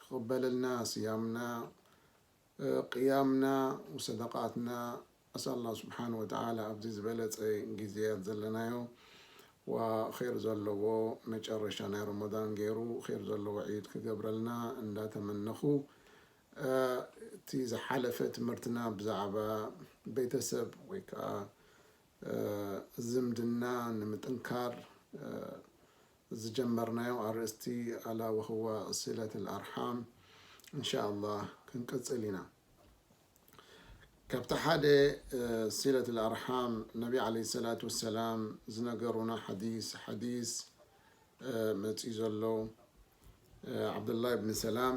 ክቅበለልና ስያምና ቅያምና ወሰደቃትና ኣስኣል ኣላህ ስብሓን ወተዓላ ኣብዚ ዝበለፀ ግዜያት ዘለናዮ ወክይር ዘለዎ መጨረሻ ናይ ሮሞዳን ገይሩ ክይር ዘለዎ ዒድ ክገብረልና እንዳተመነኹ እቲ ዝሓለፈ ትምህርትና ብዛዕባ ቤተሰብ ወይ ከዓ ዝምድና ንምጥንካር ዝጀመርናዮ ኣርእስቲ ኣላ ወህዋ ሲለት ኣርሓም እንሻኣላህ ክንቅፅል ኢና ካብቲ ሓደ ሲለት ኣርሓም ነቢ ዓለይሂ ሰላቱ ወሰላም ዝነገሩና ሓዲስ ሓዲስ መፂኡ ዘሎ ዓብዱላህ ብኒ ሰላም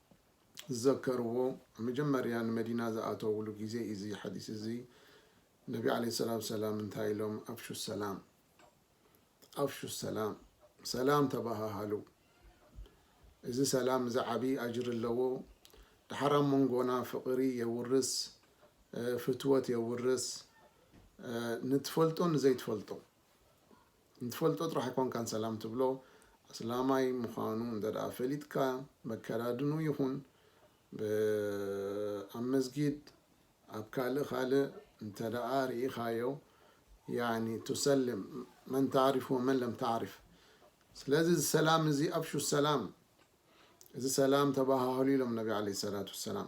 ዝዘከርዎ መጀመርያ ንመዲና ዝኣተውሉ ግዜ እዩ እዚ ሓዲስ እዚ ነቢ ዓለይሂ ሰላቱ ወሰላም እንታይ ኢሎም ኣፍሹ ሰላም ኣፍሹ ሰላም ሰላም ተባሃሃሉ እዚ ሰላም እዚ ዓብዪ ኣጅሪ ኣለዎ ድሓር ኣብ መንጎና ፍቕሪ የውርስ ፍትወት የውርስ ንትፈልጦ ንዘይትፈልጦ ንትፈልጦ ጥራሕ ኣይኮንካን ሰላም ትብሎ ኣስላማይ ምዃኑ እንተድኣ ፈሊጥካ በከዳድንኡ ይኹን ኣብ መስጊድ ኣብ ካልእ ካልእ እንተድኣ ርኢኻዮ ያኒ ትሰልም መን ታዕሪፍ ወመን ለም ታዕሪፍ ስለዚ እዚ ሰላም እዚ ኣብሹ ሰላም እዚ ሰላም ተባሃሃሉ ኢሎም ነቢ ዓለይሂ ሰላቱ ወሰላም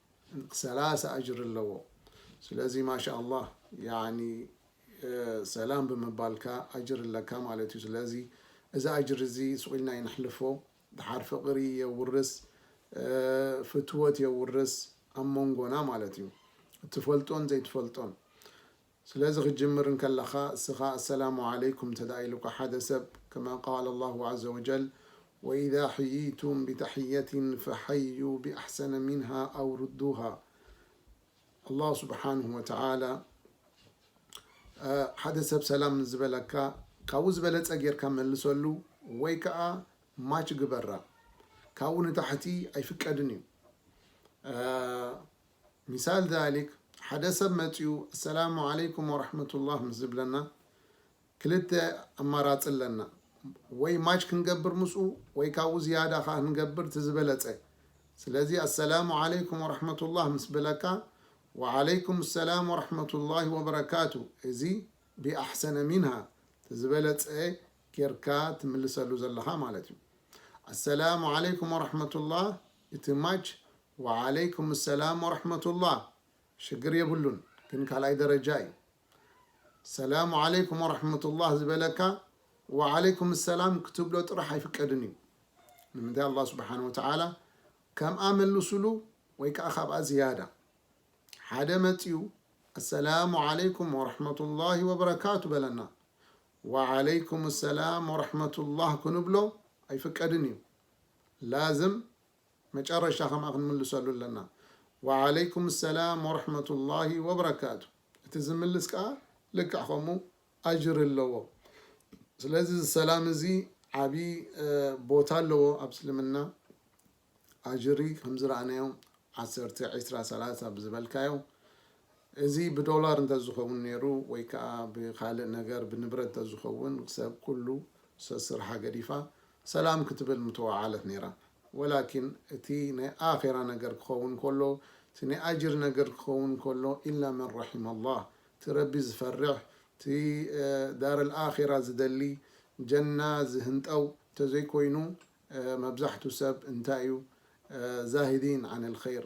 ሰላሳ ኣጅሪ ኣለዎ ስለዚ ማሻላህ ያኒ ሰላም ብምባልካ ኣጅሪ ኣለካ ማለት እዩ ስለዚ እዚ ኣጅሪ እዚ ሱቅ ኢልና ኣይነሕልፎ ድሓር ፍቅሪ የውርስ ፍትወት የውርስ ኣብ መንጎና ማለት እዩ እትፈልጦን ዘይትፈልጦን ስለዚ ክትጅምር እንከለኻ እስኻ ኣሰላሙ ዓለይኩም እንተድኣ ኢሉካ ሓደ ሰብ ከማ ቃለ ኣላሁ ዓዘ ወጀል ወኢዛ ሕይይቱም ቢተሕየቲን ፈሐዩ ቢኣሕሰነ ሚንሃ ኣው ሩዱሃ ኣላሁ ስብሓነሁ ወተዓላ ሓደ ሰብ ሰላም ምስ ዝበለካ ካብኡ ዝበለፀ ጌርካ መልሰሉ ወይ ከዓ ማች ግበራ ካብኡ ንታሕቲ ኣይፍቀድን እዩ ሚሳል ዛሊክ ሓደ ሰብ መጺኡ ኣሰላሙ ዓለይኩም ወራሕመቱላህ ምስ ዝብለና ክልተ ኣማራጺ ኣለና ወይ ማች ክንገብር ምስኡ ወይ ካብኡ ዝያዳ ከኣ ክንገብር እቲ ዝበለጸ ስለዚ ኣሰላሙ ዓለይኩም ወራሕመቱላህ ምስ በለካ ወዓለይኩም ሰላም ወራሕመቱላሂ ወበረካቱ እዚ ቢኣሕሰነ ሚንሃ እቲ ዝበለጸ ጌርካ ትምልሰሉ ዘለኻ ማለት እዩ ኣሰላሙ ዓለይኩም ወራሕመቱላህ እቲ ማች ዋዓለይኩም ሰላም ወረሕመቱላህ ሽግር የብሉን ግን ካልኣይ ደረጃ እዩ ሰላሙ ዓለይኩም ወረሕመቱላህ ዝበለካ ዋዓለይኩም ሰላም ክትብሎ ጥራሕ ኣይፍቀድን እዩ ንምንታይ ኣላህ ስብሓን ወተዓላ ከምኣ መልሱሉ ወይ ከዓ ካብኣ ዝያዳ ሓደ መፅዩ ኣሰላሙ ዓለይኩም ወረሕመቱላሂ ወበረካቱ በለና ዋዓለይኩም ሰላም ወረሕመቱላህ ክንብሎ ኣይፍቀድን እዩ ላዝም መጨረሻ ከምኣ ክንምልሰሉ ኣለና። ወዓለይኩም ሰላም ወረሕመቱላሂ ወበረካቱ እቲ ዝምልስ ከኣ ልክዕ ከምኡ ኣጅሪ ኣለዎ። ስለዚ እዚ ሰላም እዚ ዓቢ ቦታ ኣለዎ ኣብ እስልምና ኣጅሪ ከምዝረኣናዮ ዓሰርተ ዒስራ ሰላሳ ብዝበልካዮ እዚ ብዶላር እንተዝኸውን ነይሩ ወይ ከኣ ብኻልእ ነገር ብንብረት እንተዝኸውን ሰብ ኩሉ ሰስርሓ ገዲፋ ሰላም ክትብል ምተወዓለት ነይራ ወላኪን እቲ ናይ ኣኼራ ነገር ክኸውን ከሎ እቲ ናይ ኣጅር ነገር ክኸውን ከሎ ኢላ መን ረሒመ ላህ እቲ ረቢ ዝፈርሕ እቲ ዳረል ኣኼራ ዝደሊ ጀና ዝህንጠው እንተዘይኮይኑ መብዛሕቱ ሰብ እንታይ እዩ ዛሂዲን ዓነል ኸይር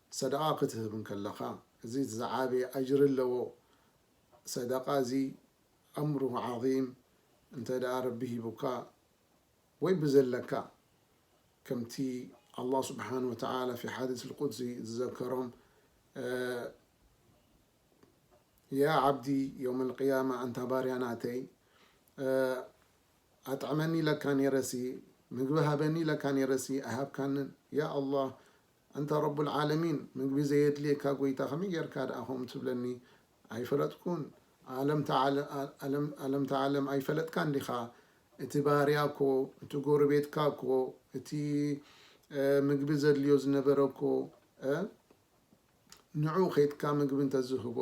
ሰደቓ ክትህብ እንከለኻ እዚ ዝዓበየ ኣጅሪ ኣለዎ። ሰደቓ እዚ ኣምሩሁ ዓዚም እንተ ደኣ ረቢ ሂቡካ ወይ ብዘለካ ከምቲ ኣላህ ሱብሓነሁ ወተዓላ ፊ ሓዲስል ቁድሲ ዝዘከሮም ያ ዓብዲ የውመል ቂያማ ኣንታ ባርያ ናተይ ኣጥዕመኒ ኢለካ ኔረሲ ምግቢ ሃበኒ ኢለካ ኔረሲ ኣይሃብካንን ያ ኣላህ ኣንታ ረቡል ዓለሚን ምግቢ ዘየድልየካ ጎይታ ከመይ ጌርካ ድኣ ከምኡ ትብለኒ ኣይፈለጥኩን ኣለምታ ዓለም ኣይፈለጥካን ዲኻ እቲ ባርያ እኮ እቲ ጎረቤትካ እኮ እቲ ምግቢ ዘድልዮ ዝነበረ እኮ ንዑ ከይድካ ምግቢ እንተዝህቦ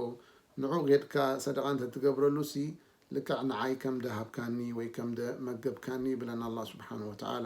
ንዑ ጌድካ ሰደቓ እንተትገብረሉሲ ልክዕ ንዓይ ከም ደሃብካኒ ወይ ከም መገብካኒ ይብለና ኣላህ ስብሓነሁ ወተዓላ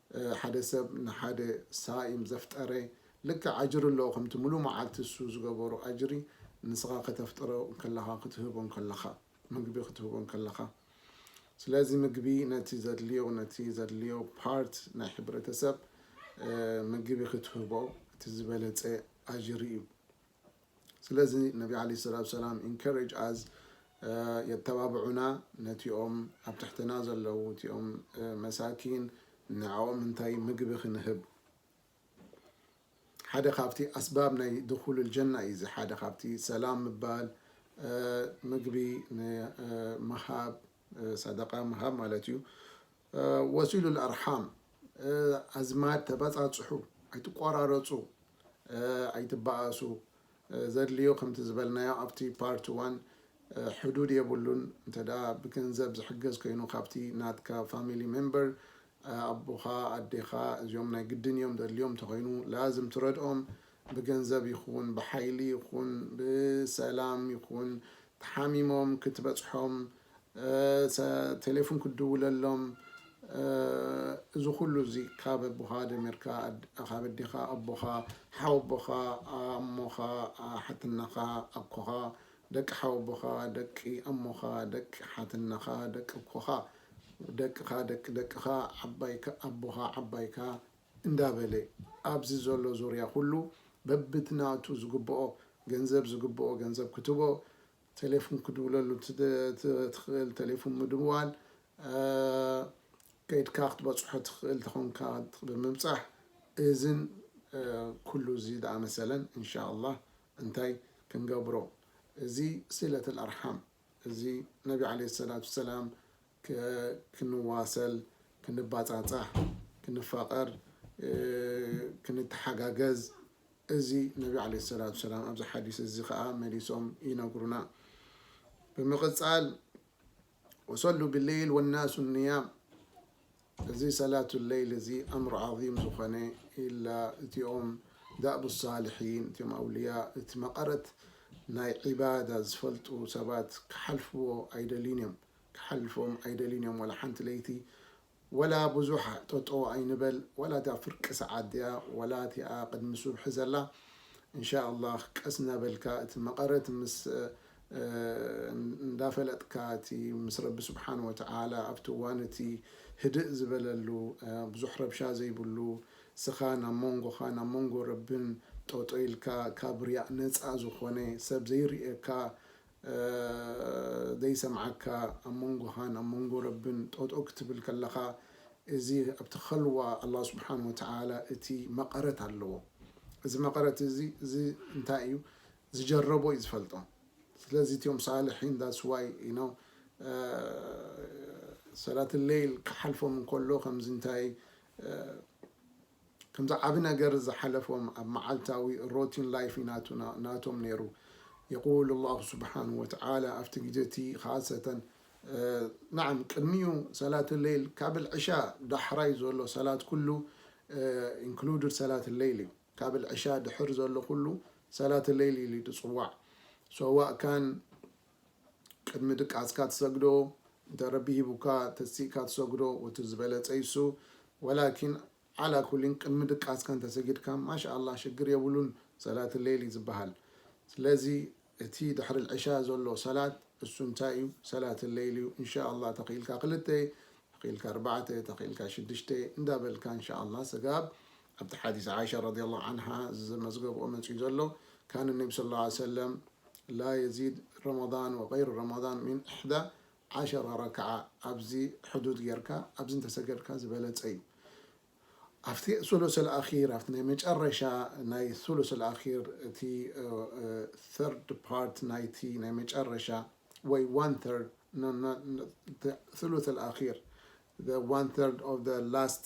ሓደ ሰብ ንሓደ ሳኢም ዘፍጠረ ልክዕ ኣጅሪ ኣለዎ ከምቲ ምሉእ መዓልቲ እሱ ዝገበሮ ኣጅሪ ንስኻ ከተፍጥሮ ከለኻ ክትህቦ ከለኻ ምግቢ ክትህቦ ከለኻ ስለዚ ምግቢ ነቲ ዘድልዮ ነቲ ዘድልዮ ፓርት ናይ ሕብረተሰብ ምግቢ ክትህቦ እቲ ዝበለፀ ኣጅሪ እዩ ስለዚ ነቢ ዓለይሂ ሰላቱ ወሰላም ኢንከረጅ ኣዝ የተባብዑና ነቲኦም ኣብ ትሕትና ዘለዉ እቲኦም መሳኪን ንዐኦም እንታይ ምግቢ ክንህብ ሓደ ካብቲ ኣስባብ ናይ ድኹሉል ጀና እዩ እዚ ሓደ ካብቲ ሰላም ምባል ምግቢ ንምሃብ ሰደቃ ምሃብ ማለት እዩ ወሲሉል ኣርሓም ኣዝማድ ተበጻጽሑ ኣይትቆራረጹ ኣይትበኣሱ ዘድልዮ ከምቲ ዝበልናዮ ኣብቲ ፓርት ዋን ሕዱድ የብሉን እንተ ብገንዘብ ዝሕገዝ ኮይኑ ካብቲ ናትካ ፋሚሊ ሜምበር ኣቦኻ ኣዴኻ እዚኦም ናይ ግድን እዮም ዘድልዮም እንተኾይኑ ላዝም ትረድኦም ብገንዘብ ይኹን ብሓይሊ ይኹን ብሰላም ይኹን ተሓሚሞም ክትበጽሖም ቴሌፉን ክትድውለሎም እዚ ኩሉ እዚ ካብ ኣቦኻ ጀሚርካ ካብ ኣዴኻ ኣቦኻ ሓው ኣቦኻ ኣሞኻ ሓትነኻ ኣኮኻ ደቂ ሓው ኣቦኻ ደቂ ኣሞኻ ደቂ ሓትነኻ ደቂ ኣኮኻ ደቅኻ ደቂ ደቅኻ ዓባይካ ኣቦኻ ዓባይካ እንዳበለ ኣብዚ ዘሎ ዙርያ ኩሉ በብቲ ናቱ ዝግብኦ ገንዘብ ዝግብኦ ገንዘብ ክትቦ ቴሌፉን ክድውለሉ ትኽእል ቴሌፉን ምድዋል ከይድካ ክትበጽሖ ትኽእል ተኾንካ ብምብጻሕ እዝን ኩሉ እዚ ዝኣመሰለን እንሻላህ እንታይ ክንገብሮ እዚ ሲለትል ኣርሓም እዚ ነቢ ዓለይሂ ሰላቱ ሰላም ክንዋሰል፣ ክንባጻጻሕ፣ ክንፋቐር፣ ክንተሓጋገዝ እዚ ነቢ ዓለይሂ ሰላቱ ወሰላም ኣብዚ ሓዲስ እዚ ከኣ መሊሶም ይነግሩና። ብምቕጻል ወሶሉ ቢለይል ወናሱ ንያም እዚ ሰላቱ ለይል እዚ ኣምር ዓዚም ዝኾነ ኢላ እቲኦም ዳእቡ ሳልሒን እቲኦም ኣውልያ እቲ መቐረት ናይ ዒባዳ ዝፈልጡ ሰባት ክሓልፍዎ ኣይደልዩን እዮም። ክሓልፎም ኣይደልዩን እዮም ዋላ ሓንቲ ለይቲ ዋላ ብዙሕ ጠጠው ኣይንበል ዋላ እታ ፍርቂ ሰዓት ድያ ዋላ እቲኣ ቅድሚ ሱብሒ ዘላ እንሻላህ ቀስ እናበልካ እቲ መቐረት ምስ እንዳፈለጥካ እቲ ምስ ረቢ ስብሓን ወተዓላ ኣብቲ እዋን እቲ ህድእ ዝበለሉ ብዙሕ ረብሻ ዘይብሉ እስኻ ናብ ሞንጎኻ ናብ ሞንጎ ረብን ጠጠው ኢልካ ካብ ሪያእ ነፃ ዝኾነ ሰብ ዘይርእየካ ዘይሰምዓካ ኣብ መንጎኻን ኣብ መንጎ ረብን ጠጦው ክትብል ከለኻ እዚ ኣብቲ ኸልዋ ኣላህ ስብሓን ወተዓላ እቲ መቐረት ኣለዎ እዚ መቐረት እዚ እዚ እንታይ እዩ ዝጀረቦ እዩ ዝፈልጦ ስለዚ እቲኦም ሳልሒን ዳትስ ዋይ ዩ ኖው ሰላት ለይል ክሓልፎም እንከሎ ከምዚ እንታይ ከምዚ ዓቢ ነገር ዝሓለፎም ኣብ መዓልታዊ ሮቲን ላይፍ ናቱና ናቶም ነይሩ የቁል ኣላሁ ሱብሓነሁ ወተዓላ ኣብቲ ግዜ እቲ ኻሰተ ናዓም ቅድሚኡ ሰላት ለይል ካብ ዕሻ ዳሕራይ ዘሎ ሰላት ኩሉ ኢንክሉድድ ሰላት ለይል እዩ ካብ ዕሻ ድሕር ዘሎ ኩሉ ሰላት ለይል ኢሉ እዩ ድጽዋዕ ሰዋእ ካን ቅድሚ ድቃስካ ትሰግዶ እንተ ረቢ ሂቡካ ተሲእካ ትሰግዶ ወቲ ዝበለጸ ይሱ ወላኪን ዓላ ኩሊን ቅድሚ ድቃስካ እንተሰጊድካ ማሻኣላህ ሽግር የብሉን ሰላት ለይል እዩ ዝባሃል ስለዚ እቲ ድሕሪ ልዕሻ ዘሎ ሰላት እሱ እንታይ እዩ ሰላት ለይል እዩ እንሻኣላህ ተኪኢልካ ክልተ ተኪኢልካ ኣርባዕተ ተኪኢልካ ሽድሽተ እንዳበልካ እንሻኣላህ ሰጋብ ኣብቲ ሓዲስ ዓኢሻ ረዲየላሁ ዓንሃ ዝመዝገብኦ መፂኡ ዘሎ ካነ ነቢ ሰለላሁ ዓለይሂ ወሰለም ላየዚድ ረመዳን ወገይሩ ረመዳን ሚን እሕዳ ዓሸራ ረክዓ ኣብዚ ሕዱድ ጌርካ ኣብዚ እንተሰገድካ ዝበለጸ እዩ። ኣብቲ ሱሉስ ኣልኣኺር ኣብቲ ናይ መጨረሻ ናይ ሱሉስ ኣልኣኺር እቲ third part ናይቲ ናይ መጨረሻ ወይ one third no not the ሱሉስ ኣልኣኺር the one third of the last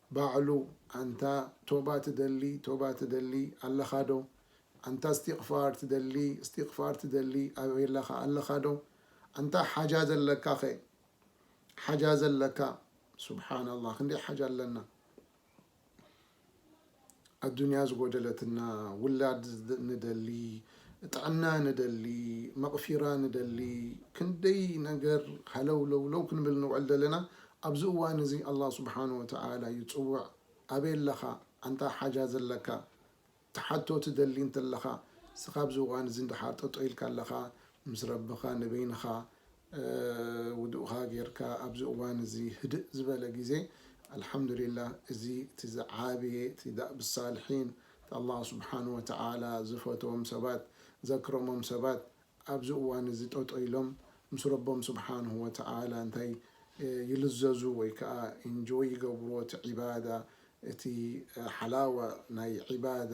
ባዕሉ ኣንታ ቶባ ትደሊ ቶባ ትደሊ ኣለኻ ዶ ኣንታ እስቲቅፋር ትደሊ እስቲቅፋር ትደሊ ኣበላኻ ኣለኻ ዶ ኣንታ ሓጃ ዘለካ ከ ሓጃ ዘለካ ሱብሓናላህ ክንደይ ሓጃ ኣለና። ኣዱንያ ዝጎደለትና ውላድ ንደሊ ጥዕና ንደሊ መቅፊራ ንደሊ ክንደይ ነገር ሃለውለውለው ክንብል ንውዕል ዘለና ኣብዚ እዋን እዚ ኣላህ ሱብሓነሁ ወተዓላ ይጽውዕ ኣበይ ኣለኻ ኣንታ ሓጃ ዘለካ ትሓቶ ትደሊ እንተለኻ እስኻ ኣብዚ እዋን እዚ ድሓር ጠጠው ኢልካ ኣለኻ ምስ ረብኻ ንበይንኻ ውዱእካ ጌርካ ኣብዚ እዋን እዚ ህድእ ዝበለ ግዜ ኣልሓምዱሊላህ እዚ እቲ ዝዓበየ እቲ ዳእብ ሳልሒን እቲ ኣላህ ሱብሓነሁ ወተዓላ ዝፈትዎም ሰባት ዘክረሞም ሰባት ኣብዚ እዋን እዚ ጠጠው ኢሎም ምስ ረቦም ሱብሓነሁ ወተዓላ እንታይ ይልዘዙ ወይ ከኣ ኢንጆይ ይገብርዎ እቲ ዒባዳ እቲ ሓላዋ ናይ ዒባዳ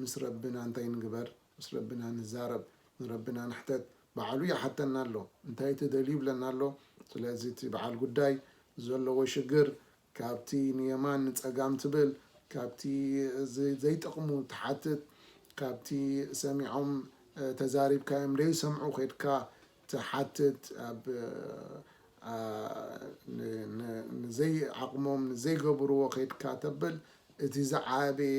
ምስ ረብና እንታይ ንግበር ምስ ረብና ንዛረብ ንረብና ንሕተት በዓሉ ይሓተና ኣሎ እንታይ ትደልዩ ይብለና ኣሎ ስለዚ እቲ በዓል ጉዳይ ዘለዎ ሽግር ካብቲ ንየማን ንጸጋም ትብል ካብቲ ዘይጠቅሙ ትሓትት ካብቲ ሰሚዖም ተዛሪብካዮም ደይሰምዑ ከድካ ትሓትት ኣብ ንዘይ ዓቅሞም ንዘይገብርዎ ከድካ ተብል እቲ ዝዓበየ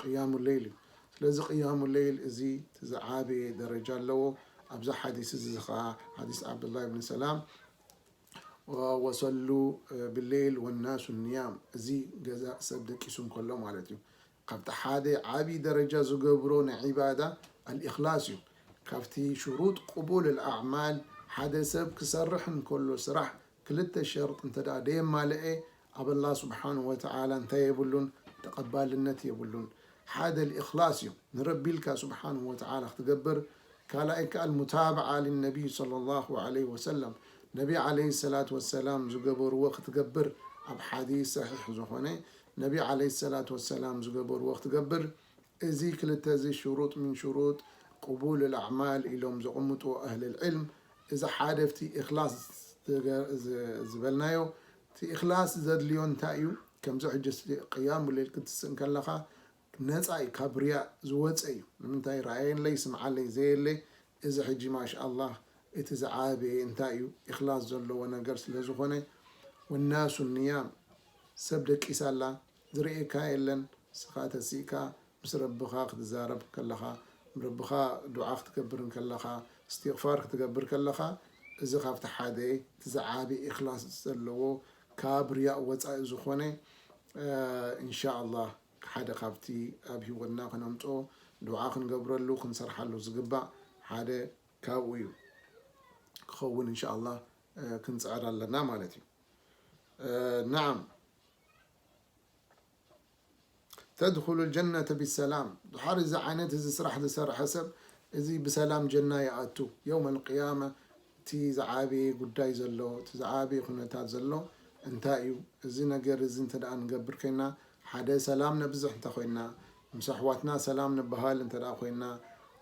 ቅያሙ ለይል እዩ ስለዚ ቅያሙ ለይል እዚ ዝዓበየ ደረጃ ኣለዎ ኣብዚ ሓዲስ እዚ ዝኸዓ ሓዲስ ዓብዱላ ብን ሰላም ወሰሉ ብሌል ወናሱ ንያም እዚ ገዛ ሰብ ደቂሱ እንከሎ ማለት እዩ ካብቲ ሓደ ዓብዪ ደረጃ ዝገብሮ ናይ ዒባዳ ኣልእክላስ እዩ ካብቲ ሽሩጥ ቅቡል ኣልኣዕማል ሓደ ሰብ ክሰርሕ እንከሎ ስራሕ ክልተ ሸርጥ እንተድኣ ደየማለኤ ኣብ ኣላህ ሱብሓነሁ ወተዓላ እንታይ የብሉን ተቐባልነት የብሉን። ሓደ ኣልኢኽላስ እዩ፣ ንረቢ ኢልካ ሱብሓነሁ ወተዓላ ክትገብር፣ ካልኣይ ከኣ ኣልሙታብዓ ሊነቢይ ሰለላሁ ዓለይሂ ወሰለም ነቢ ዓለይሂ ሰላቱ ወሰላም ዝገበርዎ ክትገብር ኣብ ሓዲስ ሰሒሕ ዝኾነ ነቢ ዓለይሂ ሰላቱ ወሰላም ዝገበርዎ ክትገብር እዚ ክልተ'ዚ ሹሩጥ ምን ሹሩጥ ቁቡል ኣልኣዕማል ኢሎም ዘቕምጥዎ ኣህለልዕልም፣ እዚ ሓደ ኣብቲ ኢኽላስ ዝበልናዮ፣ እቲ ኢኽላስ ዘድልዮ እንታይ እዩ? ከምዚ ሕጂ እስቲ ቅያሙለይል ክትስእ እንከለኻ ነጻ እዩ ካብ ሪያእ ዝወጸ እዩ፣ ንምንታይ ረኣየለይ ስምዓለይ ዘየለ፣ እዚ ሕጂ ማሻኣላህ እቲ ዝዓበየ እንታይ እዩ ኢኽላስ ዘለዎ ነገር ስለዝኾነ፣ ወናሱ ኒያም ሰብ ደቂሳ ኣላ ዝርእየካ የለን ንስኻ ተሲእካ ምስ ረብኻ ክትዛረብ ከለኻ ንረብኻ ዱዓ ክትገብር እንከለኻ እስቲቅፋር ክትገብር ከለኻ እዚ ካብቲ ሓደ እቲ ዝዓቢ ኢኽላስ ዘለዎ ካብ ርያእ ወጻኢ ዝኾነ እንሻላህ ሓደ ካብቲ ኣብ ሂወትና ክነምጾ ዱዓ ክንገብረሉ ክንሰርሓሉ ዝግባእ ሓደ ካብኡ እዩ ክኸውን እንሻላህ ክንጽዕር ኣለና ማለት እዩ ናዓም። ተድኹሉል ጀነተ ቢሰላም ድሓር እዚ ዓይነት እዚ ስራሕ ዝሰርሐ ሰብ እዚ ብሰላም ጀና ይኣቱ የውመል ቂያማ እቲ ዝዓበየ ጉዳይ ዘሎ እቲ ዝዓበየ ኩነታት ዘሎ እንታይ እዩ እዚ ነገር እዚ እንተ ንገብር ኮይና ሓደ ሰላም ነብዝሕ እንተ ኮይና ምስ ኣሕዋትና ሰላም ንበሃል እንተ ኮይና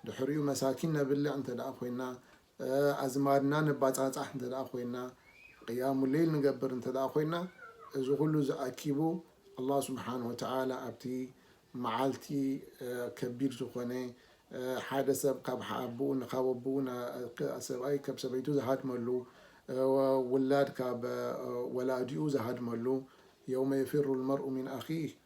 ድሕሪኡ መሳኪን ነብልዕ እንተ ኮይና ኣዝማድና ነባጻጻሕ እንተ ኮይና፣ ቂያሙ ለይል ንገብር እንተ ኮይና፣ እዚ ኩሉ እዚ ኣኪቡ ኣላህ ስብሓነሁ ወተዓላ ኣብቲ መዓልቲ ከቢድ ዝኾነ ሓደ ሰብ ካብ ኣቡኡ ካብ ኣቡኡ ሰብኣይ ካብ ሰበይቱ ዝሃድመሉ ውላድ ካብ ወላዲኡ ዝሃድመሉ የውመ የፊሩ ልመርኡ ሚን ኣኺህ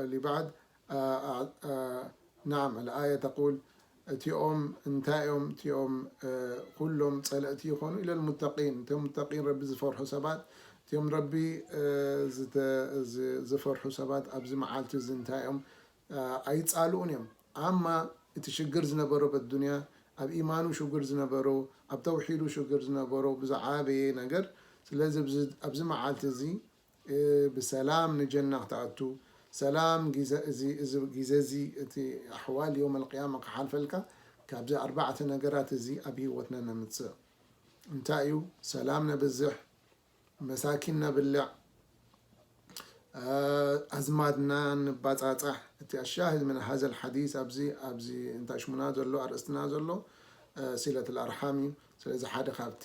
እሊ ባዕድ ናዓም ኣል ኣያ ተቁል እቲኦም እንታይ እዮም እቲኦም ኩሎም ፀለእቲ ይኾኑ ኢለ ሙተቂን እቶም ሙተቂን ረቢ ዝፈርሑ ሰባት እቲኦም ረቢ ዝፈርሑ ሰባት ኣብዚ መዓልቲ እዚ እንታይ እዮም ኣይፃልኡን እዮም ኣማ እቲ ሽግር ዝነበሮ በዱንያ ኣብ ኢማኑ ሽግር ዝነበሮ ኣብ ተውሒዱ ሽግር ዝነበሮ ብዝዓበየ ነገር ስለዚ ኣብዚ መዓልቲ እዚ ብሰላም ንጀና ክትኣቱ ሰላም ጊዘ እዚ እዚ ጊዘ እዚ እቲ ኣሕዋል ዮመል ቅያማ ክሓልፈልካ ካብዚ ኣርባዕተ ነገራት እዚ ኣብ ሂወትና ነምጽእ እንታይ እዩ ሰላም ነብዝሕ መሳኪን ነብልዕ ኣዝማድና ንባጻጻሕ እቲ ኣሻሂድ ምን ሃዘል ሓዲስ ኣብዚ ኣብዚ እንታይ ሽሙና ዘሎ ኣርእስትና ዘሎ ሲለት ኣርሓም እዩ ስለዚ ሓደ ካብቲ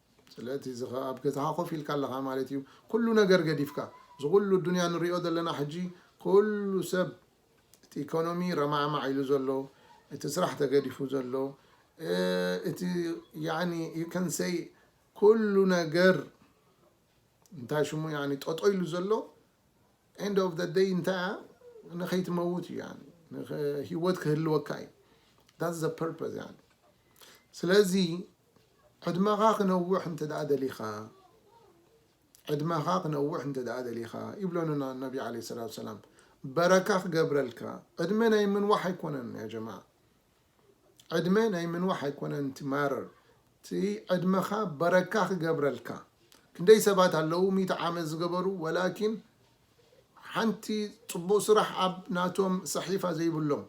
ስለቲ እዚ ከኣ ኣብ ገዛኻ ኮፍ ኢልካ ኣለኻ ማለት እዩ ኩሉ ነገር ገዲፍካ እዚ ኩሉ ኣዱንያ ንሪኦ ዘለና ሕጂ ኩሉ ሰብ እቲ ኢኮኖሚ ረማዕማዕ ኢሉ ዘሎ እቲ ስራሕ ተገዲፉ ዘሎ እቲ ያኒ ዩ ከን ሰይ ኩሉ ነገር እንታይ ሽሙ ያኒ ጠጦ ኢሉ ዘሎ ኤንድ ኦፍ ዘ ደይ እንታይ እያ ንኸይትመውት እዩ ያኒ ህይወት ክህልወካ እዩ ዳትስ ዘ ፐርፐዝ ያኒ ስለዚ ዕድመኻ ክነውሕ እንተ ደሊኻ ዕድመኻ ክነውሕ እንተ ደሊኻ ይብለኑና ነቢ ዓለይሂ ሰላቱ ወሰላም በረካ ክገብረልካ ዕድመ ናይ ምንዋሕ ኣይኮነን ያ ጀማዓ ዕድመ ናይ ምንዋሕ ኣይኮነን እቲ ማረር እቲ ዕድመኻ በረካ ክገብረልካ ክንደይ ሰባት ኣለዉ ሚእቲ ዓመት ዝገበሩ ወላኪን ሓንቲ ፅቡቅ ስራሕ ኣብ ናቶም ሰሒፋ ዘይብሎም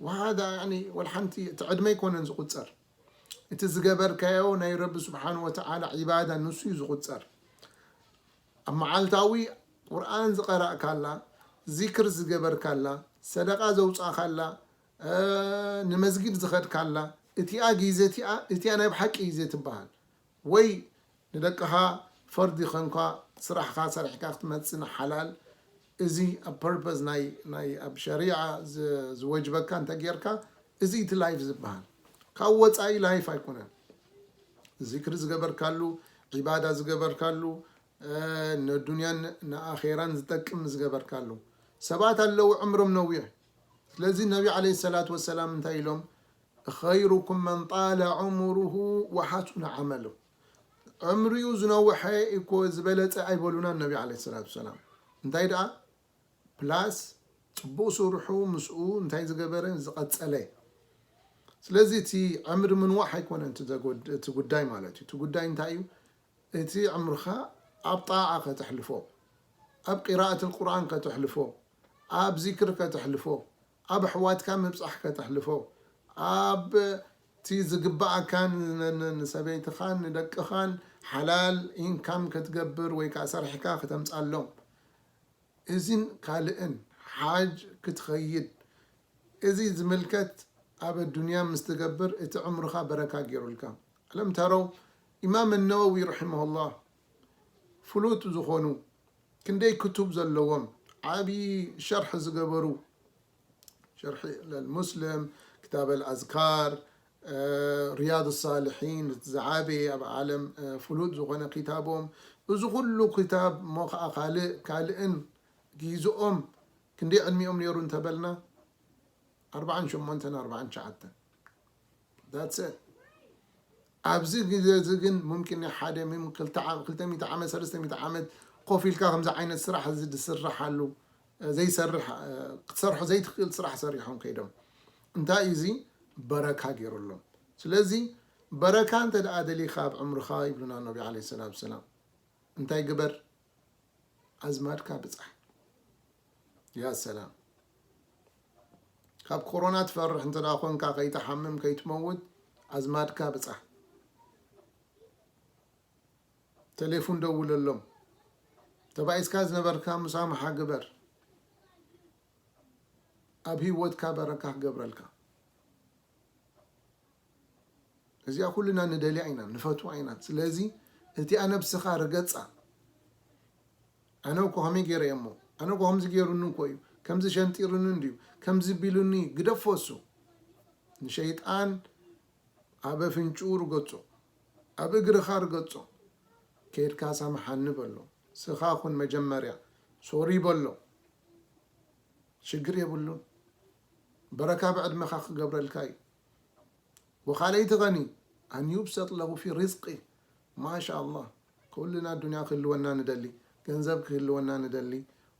ወሃዳ ያኒ ወልሓንቲ እቲ ዕድመ ኣይኮነን ዝቁፀር እቲ ዝገበርካዮ ናይ ረቢ ስብሓን ወተዓላ ዒባዳ ንሱ እዩ ዝቑፀር። ኣብ መዓልታዊ ቁርኣን ዝቐራእካላ፣ ዚክር ዝገበርካላ፣ ሰደቓ ዘውፃእኻላ፣ ንመስጊድ ዝኸድካላ እቲኣ ጊዘ እቲኣ እቲኣ ናይ ብሓቂ ጊዜ ትበሃል። ወይ ንደቅኻ ፈርዲ ኮንካ ስራሕኻ ሰሪሕካ ክትመጽእ ንሓላል እዚ ኣብ ፐርፐዝ ናይ ናይ ኣብ ሸሪዓ ዝወጅበካ እንተ ጌርካ እዚ እዩ እቲ ላይፍ ዝብሃል ካብኡ ወጻኢ ላይፍ ኣይኮነን ዚክሪ ዝገበርካሉ ዒባዳ ዝገበርካሉ ንዱንያን ንኣኼራን ዝጠቅም ዝገበርካሉ ሰባት ኣለዉ ዕምሮም ነዊሕ ስለዚ ነቢ ዓለይሂ ሰላቱ ወሰላም እንታይ ኢሎም ኸይሩኩም መን ጣለ ዑሙሩሁ ወሓሱነ ዓመሉሁ ዕምሪኡ ዝነውሐ ኢኮ ዝበለፀ ኣይበሉናን ነቢ ዓለይሂ ሰላቱ ወሰላም እንታይ ደኣ ፕላስ ፅቡቅ ስርሑ ምስኡ እንታይ ዝገበረ ዝቀፀለ ስለዚ እቲ ዕምሪ ምንዋሕ ኣይኮነን እቲ ጉዳይ ማለት እዩ እቲ ጉዳይ እንታይ እዩ እቲ ዕምርኻ ኣብ ጣዓ ከተሕልፎ ኣብ ቂራኣት ቁርኣን ከተሕልፎ ኣብ ዚክር ከተሕልፎ ኣብ ኣሕዋትካ ምብጻሕ ከተሕልፎ፣ ኣብቲ ዝግብኣካን ንሰበይትኻን ንደቅኻን ሓላል ኢንካም ክትገብር ወይ ከኣ ሰሪሕካ ክተምጻሎም እዚን ካልእን ሓጅ ክትኸይድ እዚ ዝምልከት ኣብ ኣዱንያ ምስ ትገብር እቲ ዕምርኻ በረካ ጌሩልካ። ኣለም ተረው ኢማም ኣነወዊ ርሒመሁላህ። ፍሉጥ ዝኾኑ ክንደይ ክቱብ ዘለዎም ዓብዪ ሸርሒ ዝገበሩ ሸርሒ ለልሙስልም ክታብ ኣልኣዝካር ርያድ ሳልሒን እቲ ዝዓበየ ኣብ ዓለም ፍሉጥ ዝኾነ ክታቦም እዚ ኩሉ ክታብ እሞ ከዓ ካልእ ካልእን ጊዝኦም ክንደይ ዕድሚኦም ነይሩ እንተበልና ኣርብዓን ሸሞንተን ኣርብዓን ትሽዓተን ዳትሰ ኣብዚ ግዜ እዚ ግን ሙምኪን ናይ ሓደ ሚም ክልተ ዓመት ክልተ ሚእቲ ዓመት ሰለስተ ሚእቲ ዓመት ኮፍ ኢልካ ከምዚ ዓይነት ስራሕ እዚ ዝስርሓሉ ዘይሰርሕ ክትሰርሖ ዘይትክእል ስራሕ ሰሪሖም ከይዶም እንታይ እዩ እዚ በረካ ጌሩሎም ስለዚ በረካ እንተ ደኣ ደሊካ ኣብ ዕምርካ ይብሉና ነቢ ዓለይሂ ሰላቱ ወሰላም እንታይ ግበር ኣዝማድካ ብጻሕ ያ ሰላም ካብ ኮሮና ትፈርሕ እንተ ኮንካ ከይትሓምም ከይትመውት ኣዝማድካ ብጻሕ ቴሌፎን ደውለሎም ተባኢስካ ዝነበርካ ምሳምሓ ግበር ኣብ ህይወትካ በረካ ክገብረልካ እዚኣ ኩልና ንደልያ ኢና ንፈትዋ ኢና ስለዚ እቲኣ ነብስኻ ርገጻ ኣነ እኮ ከመይ ገይረ እየ እሞ ኣነ እኮ ከምዚ ገይሩኒ እኮ እዩ ከምዚ ሸንጢሩኒ እንድዩ ከምዚ ቢሉኒ ግደፎ እሱ ንሸይጣን ኣብ ኣፍንጭኡ ርገጾ ኣብ እግርኻ ርገጾ ከይድካ ሳምሓኒ በሎ ስኻ ኩን መጀመርያ ሶሪ በሎ ሽግር የብሉን በረካ ኣብ ዕድመካ ክገብረልካ እዩ ወካለይቲ ከኒ ኣን ዩብሰጥ ለሁ ፊ ሪዝቂ ማሻላህ ኩልና ኣዱንያ ክህልወና ንደሊ ገንዘብ ክህልወና ንደሊ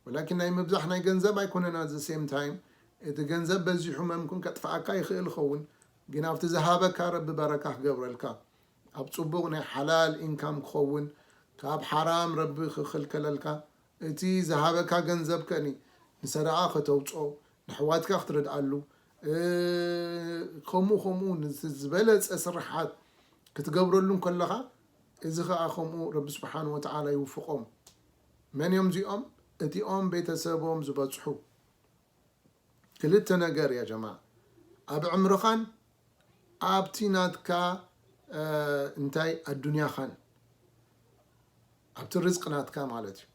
ወላኪን ናይ ምብዛሕ ናይ ገንዘብ ኣይኮነን ኣት ዘ ሴም ታይም እቲ ገንዘብ በዚሑ መምክን ከጥፍኣካ ይክእል ይከውን ግን ኣብቲ ዝሃበካ ረቢ በረካ ክገብረልካ ኣብ ፅቡቅ ናይ ሓላል ኢንካም ክከውን ካብ ሓራም ረቢ ክክልከለልካ እቲ ዝሃበካ ገንዘብ ከእኒ ንሰደቓ ከተውጾ ነሕዋትካ ክትረድኣሉ ከምኡ ከምኡ ነቲ ዝበለጸ ስርሓት ክትገብረሉ እንከለኻ እዚ ከኣ ከምኡ ረቢ ስብሓን ወተዓላ ይውፍቆም መን እዮም እዚኦም እቲኦም ቤተሰቦም ዝበጽሑ ክልተ ነገር ያ ጀማዕ ኣብ ዕምርኻን ኣብቲ ናትካ እንታይ ኣዱንያኻን ኣብቲ ርዝቅ ናትካ ማለት እዩ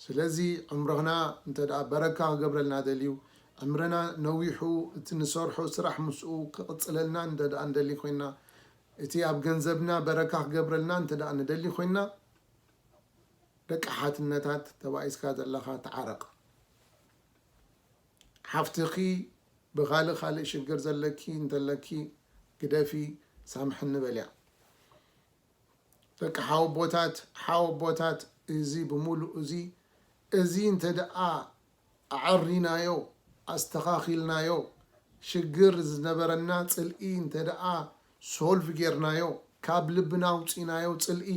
ስለዚ ዕምርና እንተ በረካ ክገብረልና ደልዩ ዕምርና ነዊሑ እቲ ንሰርሖ ስራሕ ምስኡ ክቕፅለልና እንተ ንደሊ ኮይና እቲ ኣብ ገንዘብና በረካ ክገብረልና እንተ ንደሊ ኮይና ደቂ ሓትነታት ተባኢስካ ዘለኻ ተዓረቅ ሓፍትኺ ብኻልእ ኻልእ ሽግር ዘለኪ እንተለኪ ግደፊ ሳምሕኒ በልያ ደቂ ሓወቦታት ሓወቦታት እዚ ብሙሉእ እዚ እዚ እንተደኣ ኣዐሪናዮ ኣስተኻኺልናዮ ሽግር ዝነበረና ጽልኢ እንተደኣ ሶልቭ ጌርናዮ ካብ ልብና ኣውጺናዮ ጽልኢ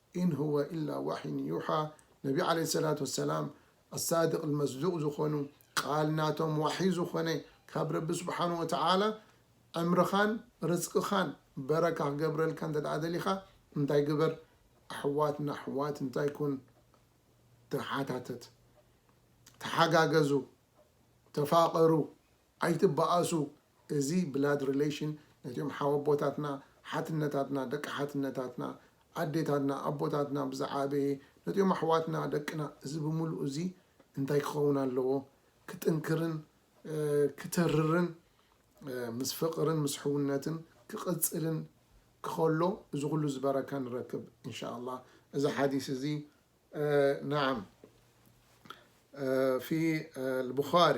ኢን ሁወ ኢላ ዋሕይን ዩሓ ነቢ ዓለይሂ ሰላቱ ወሰላም ኣሳድቅል መስዱቅ ዝኾኑ ቃል ናቶም ዋሕይ ዝኾነ ካብ ረቢ ስብሓነሁ ወተዓላ ዕምርኻን ርዝቅኻን በረካ ክገብረልካ እንተድኣ ደሊኻ እንታይ ግበር ኣሕዋት ንኣሕዋት እንታይ ኩን ተሓታተት ተሓጋገዙ ተፋቀሩ ኣይትበኣሱ እዚ ብላድ ሪለሽን ነቲኦም ሓወቦታትና ሓትነታትና ደቂ ሓትነታትና ኣዴታትና ኣቦታትና ብዝዓበየ ነቲኦም ኣሕዋትና ደቅና እዚ ብምሉኡ እዚ እንታይ ክኸውን ኣለዎ ክጥንክርን ክተርርን ምስ ፍቅርን ምስ ሕውነትን ክቅጽልን ክኸሎ እዚ ኩሉ እዚ በረካ ንረክብ እንሻኣላ እዚ ሓዲስ እዚ ናዓም ፊ ልቡኻሪ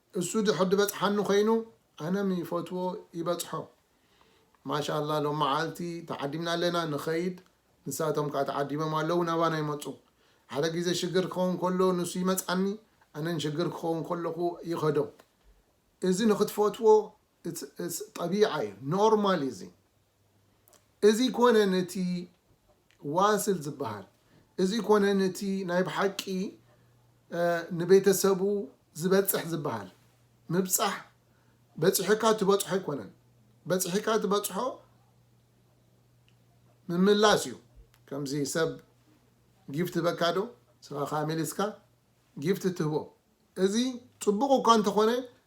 እሱ ድሕር ድበጽሓኒ ኮይኑ ኣነም ይፈትዎ ይበጽሖ። ማሻላ ሎም መዓልቲ ተዓዲምና ኣለና ንከይድ ንሳቶም ከኣ ተዓዲሞም ኣለዉ ናባና ይመጹ ሓደ ግዜ ሽግር ክከውን ከሎ ንሱ ይመጻኒ ኣነን ሽግር ክከውን ከለኩ ይከዶ እዚ ንክትፈትዎ ጠቢዓ እዩ ኖርማል እዩ እዚ እዚ ኮነ ነቲ ዋስል ዝበሃል እዚ ኮነ ነቲ ናይ ብሓቂ ንቤተሰቡ ዝበጽሕ ዝበሃል ምብጻሕ በጺሑካ ትበጽሖ ኣይኮነን በጺሒካ ትበጽሖ ምምላስ እዩ ከምዚ ሰብ ጊፍት በካ ዶ ስኻ ካሜሊስካ ጊፍት ትህቦ እዚ ጽቡቕ እኳ እንተኾነ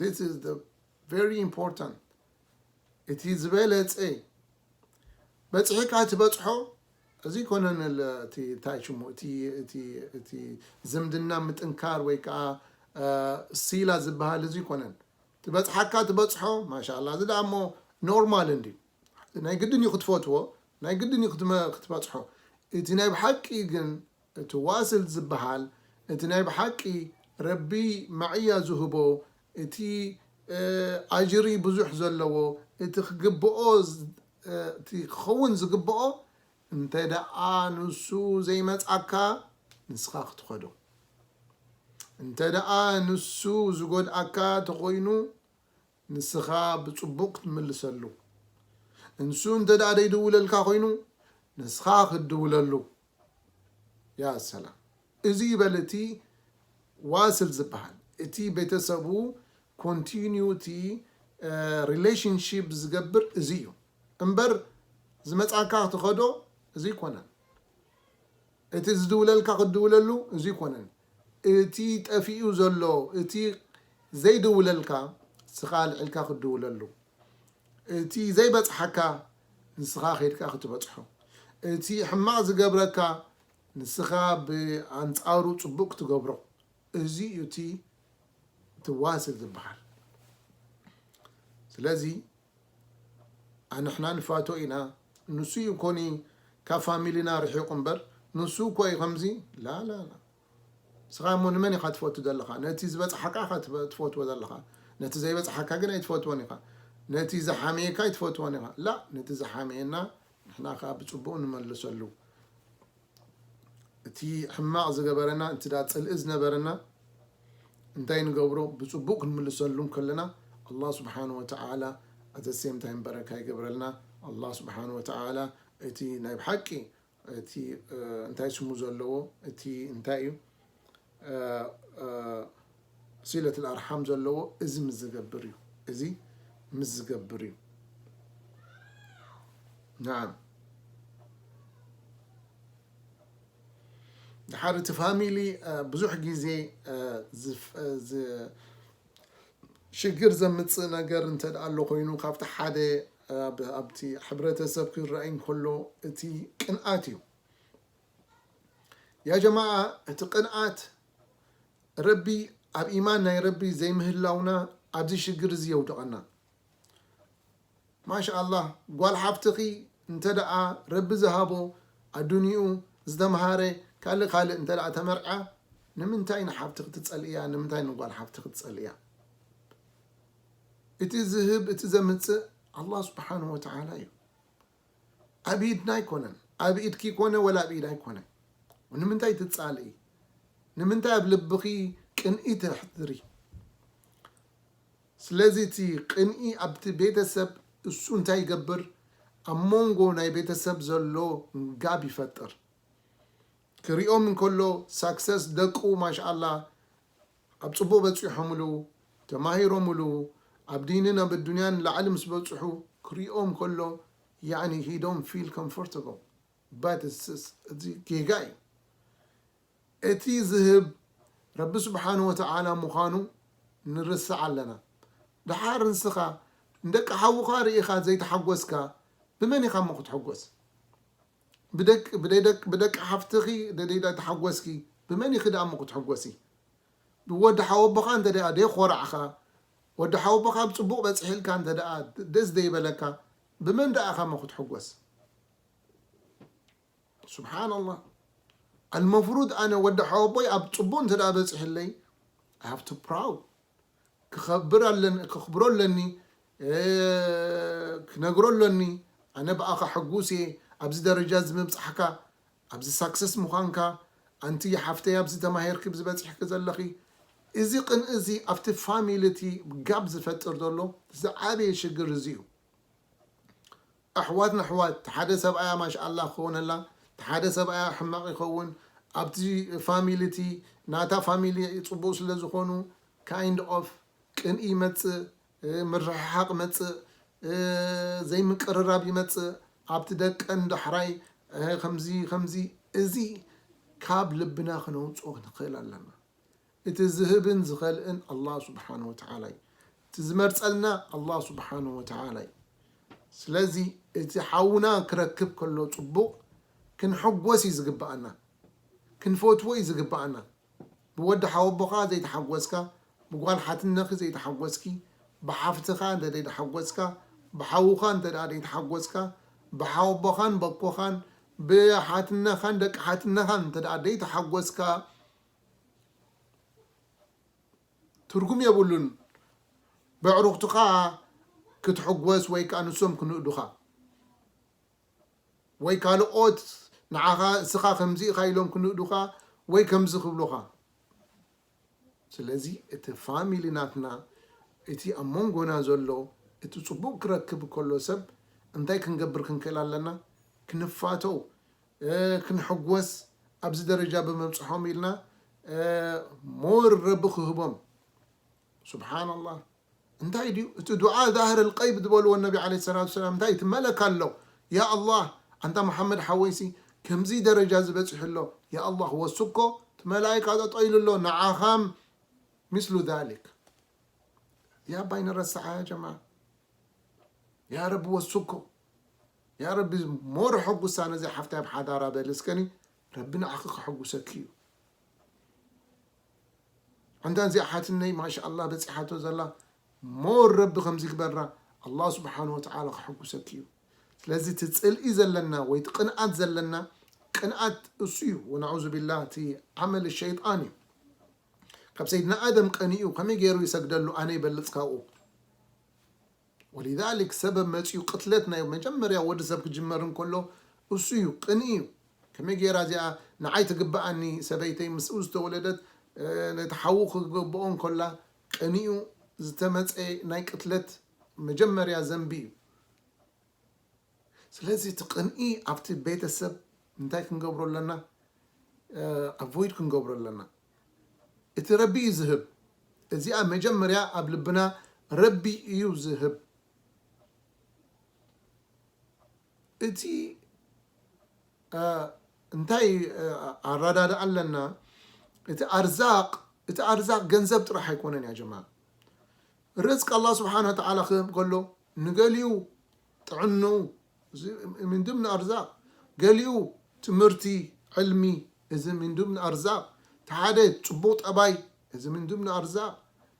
This is the very important እቲ ዝበለጸ በጽሒካ ትበጽሖ እዚ ኮነን እቲ እንታይ ሽሙ እቲ ዝምድና ምጥንካር ወይ ከዓ ሲላ ዝበሃል እዚ ኮነን ትበጽሓካ ትበጽሖ ማሻላ እዚ ደኣ እሞ ኖርማል እንዲ ናይ ግድን እዩ ክትፈትዎ ናይ ግድን እዩ ክትበጽሖ እቲ ናይ ብሓቂ ግን እቲ ዋስል ዝብሃል እቲ ናይ ብሓቂ ረቢ ማዕያ ዝህቦ እቲ ኣጅሪ ብዙሕ ዘለዎ እቲ ክግብኦ እቲ ክኸውን ዝግብኦ እንተ ደኣ ንሱ ዘይመጻካ ንስኻ ክትኸዶ እንተ ደኣ ንሱ ዝጎድኣካ ተኾይኑ ንስኻ ብጽቡቕ ክትምልሰሉ እንሱ እንተ ደኣ ደይድውለልካ ኮይኑ ንስኻ ክትድውለሉ ያ ሰላም እዚ ይበል እቲ ዋስል ዝባሃል እቲ ቤተሰቡ ኮንቲኒዩቲ ሪለሽንሺፕ ዝገብር እዚ እዩ እምበር ዝመጻካ ክትኸዶ እዚ ኣይኮነን እቲ ዝድውለልካ ክትድውለሉ እዚ ኣይኮነን እቲ ጠፊኡ ዘሎ እቲ ዘይድውለልካ ንስኻ ኣልዒልካ ክትድውለሉ እቲ ዘይበጽሓካ ንስኻ ከይድካ ክትበጽሖ እቲ ሕማቕ ዝገብረካ ንስኻ ብኣንጻሩ ጽቡቕ ክትገብሮ እዚ እዩ እቲ ትዋስል ዝበሃል ስለዚ ኣንሕና ንፋቶ ኢና ንሱ እዩ ኮኒ ካብ ፋሚሊና ርሒቁ እምበር ንሱ እኮ እዩ ከምዚ ላላላ ንስካ እሞ ንመን ኢካ ትፈቱ ዘለካ ነቲ ዝበጽሓካ ኢካ ትፈትዎ ዘለካ ነቲ ዘይበጽሓካ ግን ኣይትፈትዎን ኢካ ነቲ ዝሓመየካ ኣይትፈትዎን ኢካ ላእ ነቲ ዝሓመየና ንሕና ከኣ ብጽቡቅ ንመልሰሉ እቲ ሕማቅ ዝገበረና እንትድኣ ጽልኢ ዝነበረና እንታይ ንገብሮ ብጽቡቅ ክንምልሰሉ እንከለና ኣላህ ስብሓን ወተዓላ ኣዘ ሴም ታይም በረካ ይገብረልና ኣላህ ስብሓን ወተዓላ እቲ ናይ ብሓቂ እቲ እንታይ ስሙ ዘለዎ እቲ እንታይ እዩ ሲለት ኣርሓም ዘለዎ እዚ ምስ ዝገብር እዩ እዚ ምስ ዝገብር እዩ ናዓም ድሓር እቲ ፋሚሊ ብዙሕ ግዜ ሽግር ዘምፅእ ነገር እንተ ኣሎ ኮይኑ ካብቲ ሓደ ኣብቲ ሕብረተሰብ ክረኣይ እንከሎ እቲ ቅንኣት እዩ ያ ጀማዓ እቲ ቅንኣት ረቢ ኣብ ኢማን ናይ ረቢ ዘይምህላውና ኣብዚ ሽግር እዚ የውድቀና ማሻኣላህ ጓል ሓብትኺ እንተ ረቢ ዝሃቦ ኣዱኒኡ ዝተምሃረ ካልእ ካልእ እንተ ተመርዕያ ንምንታይ ንሓብቲ ክትፀልእያ ንምንታይ ንጓል ሓብቲ ክትፀልእያ እቲ ዝህብ እቲ ዘምፅእ ኣላ ስብሓን ወተዓላ እዩ ኣብኢድና ኣይኮነን ኣብ ኢድኪ ኮነ ወላ ኣብ ኢዳይ ኮነ ንምንታይ ትፃልኢ ንምንታይ ኣብ ልብኺ ቅንኢ ተሕድሪ ስለዚ እቲ ቅንኢ ኣብቲ ቤተሰብ እሱ እንታይ ይገብር ኣብ ሞንጎ ናይ ቤተሰብ ዘሎ ጋብ ይፈጥር ክሪኦም እንከሎ ሳክሰስ ደቁ ማሻላ ኣብ ጽቡቕ በጺሖምሉ፣ ተማሂሮምሉ፣ ኣብ ዲንን ኣብ ኣዱንያን ንላዕሊ ምስ በጽሑ ክሪኦም ከሎ ያኒ ሂ ዶንት ፊል ኮምፎርተብል በት እትስ እዚ ጌጋ እዩ እቲ ዝህብ ረቢ ስብሓን ወተዓላ ምዃኑ ንርስዕ ኣለና ደሓር ንስኻ ንደቂ ሓውኻ ርኢኻ ዘይተሓጎስካ ብመን ኢኻ እሞ ክትሕጎስ ብደቂ ብደደቂ ብደቂ ሓፍትኺ ደዲዳ ተሓጎስኪ ብመን ኢኺ ደኣሞ ክትሕጎሲ ብወዲ ሓወቦኻ እንተ ደኣ ደይኾራዕኻ ወዲ ሓወቦኻ ኣብ ጽቡቕ በጽሒልካ እንተ ደኣ ደስ ደይበለካ ብመን ደኣ ኢኻሞ ክትሕጎስ ሱብሓነላህ ኣልመፍሩድ ኣነ ወዲ ሓወቦይ ኣብ ጽቡቕ እንተ ደኣ በጺሕለይ ኣይ ሃቭ ቱ ፕራውድ ክኸብር ኣለኒ ከኽብሮ ኣለኒ ክነግሮ ኣለኒ ኣነ ብኣኻ ሕጉስ እየ ኣብዚ ደረጃ እዚ ምብጻሕካ ኣብዚ ሳክሰስ ምዃንካ ኣንቲ ሓፍተይ ኣብዚ ተማሂርኪ ኣብዚ በጺሕኪ ዘለኺ እዚ ቅንኢ እዚ ኣብቲ ፋሚሊ እቲ ጋብ ዝፈጥር ዘሎ ዝዓበየ ሽግር እዚ እዩ። ኣሕዋት ነሕዋት ትሓደ ሰብኣያ ማሽኣላህ ክኮነላ ትሓደ ሰብኣያ ሕማቅ ይከውን ኣብቲ ፋሚሊ እቲ ናታ ፋሚሊ ጽቡቅ ስለ ዝኮኑ ካይንድ ኦፍ ቅንኢ ይመጽእ ምርሕሓቅ ይመጽእ ዘይ ምቅርራብ ይመጽእ ኣብቲ ደቀን ዳሕራይ ከምዚ ከምዚ እዚ ካብ ልብና ክነውጽኦ ንክእል ኣለና እቲ ዝህብን ዝኸልእን ኣላህ ሱብሓነሁ ወተዓላ እዩ። እቲ ዝመርጸልና ኣላህ ሱብሓነሁ ወተዓላ እዩ። ስለዚ እቲ ሓውና ክረክብ ከሎ ጽቡቕ ክንሕጎስ እዩ ዝግብኣና። ክንፈትዎ እዩ ዝግብኣና። ብወዲ ሓወቦኻ ዘይተሓጎስካ፣ ብጓል ሓትነኺ ዘይተሓጎስኪ፣ ብሓፍትኻ እንተ ዘይተሓጎስካ፣ ብሓውኻ እንተ ደኣ ዘይተሓጎስካ፣ ብሓወቦኻን በኮኻን፣ ብሓትነኻን ደቂ ሓትነኻን እንተ ደኣ ዘይተሓጎስካ፣ ትርጉም የብሉን በዕሩኽትኻ ክትሕጎስ ወይ ከኣ ንሶም ክንእዱኻ ወይ ካልኦት ንዓኻ እስኻ ከምዚ ኢኻ ኢሎም ክንእዱኻ ወይ ከምዚ ክብሉኻ ስለዚ እቲ ፋሚሊ ናትና እቲ ኣብ መንጎና ዘሎ እቲ ጽቡቕ ክረክብ ከሎ ሰብ እንታይ ክንገብር ክንክእል ኣለና ክንፋተው ክንሕጎስ ኣብዚ ደረጃ ብምብጽሖም ኢልና more ረቢ ክህቦም ሱብሓነላህ እንታይ ድዩ እቲ ዱዓ ዛህር ልቀይብ ዝበልዎ ነቢ ዓለይሂ ሰላቱ ወሰላም እንታይ እቲ መለክ ኣሎ ያ ኣላህ ኣንታ መሓመድ ሓወይሲ ከምዚ ደረጃ እዚ በጺሑ ኣሎ ያ ኣላህ ወስኮ እቲ መላኢካ ጠጠው ኢሉ ኣሎ ንዓኻም ምስሉ ዛሊክ እዚኣ ኣባይ ንረስዓ ያ ጀማዓ ያ ረቢ ወስኮ ያረቢ ሞር ሐጉሳ ነዛ ሓፍታይ ኣብ ሓዳራ በሊ እስከኒ ረቢ ንዓኺ ከሐጉሰኪ እዩ ኣንታ እዚኣ ሓትነይ ማሻኣላ በፂሓቶ ዘላ ሞር ረቢ ከምዚ ግበራ ኣላህ ስብሓን ወተዓላ ከሐጉሰኪ እዩ ስለዚ እቲ ፅልኢ ዘለና ወይ እቲ ቅንኣት ዘለና ቅንኣት እሱ እዩ ወናዑዙ ቢላ እቲ ዓመል ሸይጣን እዩ ካብ ሰይድና ኣደም ቀኒኡ ከመይ ገይሩ ይሰግደሉ ኣነ ይበልፅ ካብኡ ወሊዛሊክ ሰበብ መጺኡ ቅትለት ናይ መጀመርያ ወዲ ሰብ ክጅመር እንከሎ እሱ እዩ ቅንኢ እዩ ከመይ ጌራ እዚኣ ንዓይ ትግብኣኒ ሰበይተይ ምስኡ ዝተወለደት ነቲ ሓዉ ክገበኦ እንከላ ቀኒኡ ዝተመጸ ናይ ቅትለት መጀመርያ ዘንቢ እዩ ስለዚ እቲ ቅንኢ ኣብቲ ቤተሰብ እንታይ ክንገብሮ ኣለና ኣቮይድ ክንገብሮ ኣለና እቲ ረቢ እዩ ዝህብ እዚኣ መጀመርያ ኣብ ልብና ረቢ እዩ ዝህብ እቲ እንታይ ኣራዳድኣ ኣለና እቲ ኣርዛቅ እቲ ኣርዛቅ ገንዘብ ጥራሕ ኣይኮነን ያ ጀማ ርዝቅ ኣላ ስብሓን ወተዓላ ክህብ ከሎ ንገሊኡ ጥዕንኡ እዚ ምን ድምን ኣርዛቅ ገሊኡ ትምህርቲ ዕልሚ እዚ ምን ድምን ኣርዛቅ እቲ ሓደ ጽቡቅ ጠባይ እዚ ምን ድምን ኣርዛቅ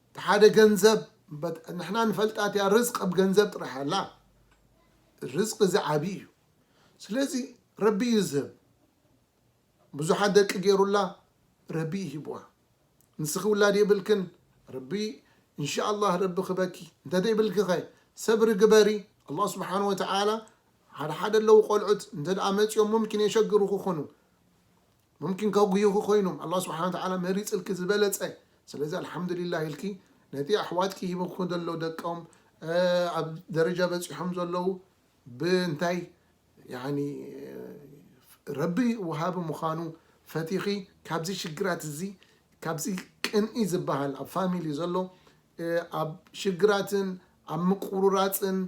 እቲ ሓደ ገንዘብ በት ንሕና ንፈልጣት እያ ርዝቅ ኣብ ገንዘብ ጥራሕ ኣላ ርዝቅ እዚ ዓቢ እዩ ስለዚ ረቢ እዩ ዝህብ ብዙሓት ደቂ ጌሩላ ረቢ እዩ ሂብዋ። ንስኺ ውላድ የብልክን ረቢ እንሻኣላህ ረቢ ክበኪ እንተዘይብልኪ ከ ሰብሪ ግበሪ ኣላህ ስብሓን ወተዓላ ሓደ ሓደ ኣለው ቆልዑት እንተ መፅኦም ሙምኪን የሸግሩኹ ኹኑ ሙምኪን ከጉዩኺ ኮይኖም ኣላህ ስብሓን ወተዓላ መሪፅልኪ ዝበለፀ ስለዚ ኣልሓምዱሊላህ ኢልኪ ነቲ ኣሕዋትኪ ሂብኩ ዘሎ ደቆም ኣብ ደረጃ በፂሖም ዘለው ብእንታይ ያኒ ረቢ ወሃቢ ምዃኑ ፈቲኺ ካብዚ ሽግራት እዚ ካብዚ ቅንኢ ዝበሃል ኣብ ፋሚሊ ዘሎ ኣብ ሽግራትን ኣብ ምቁርራጽን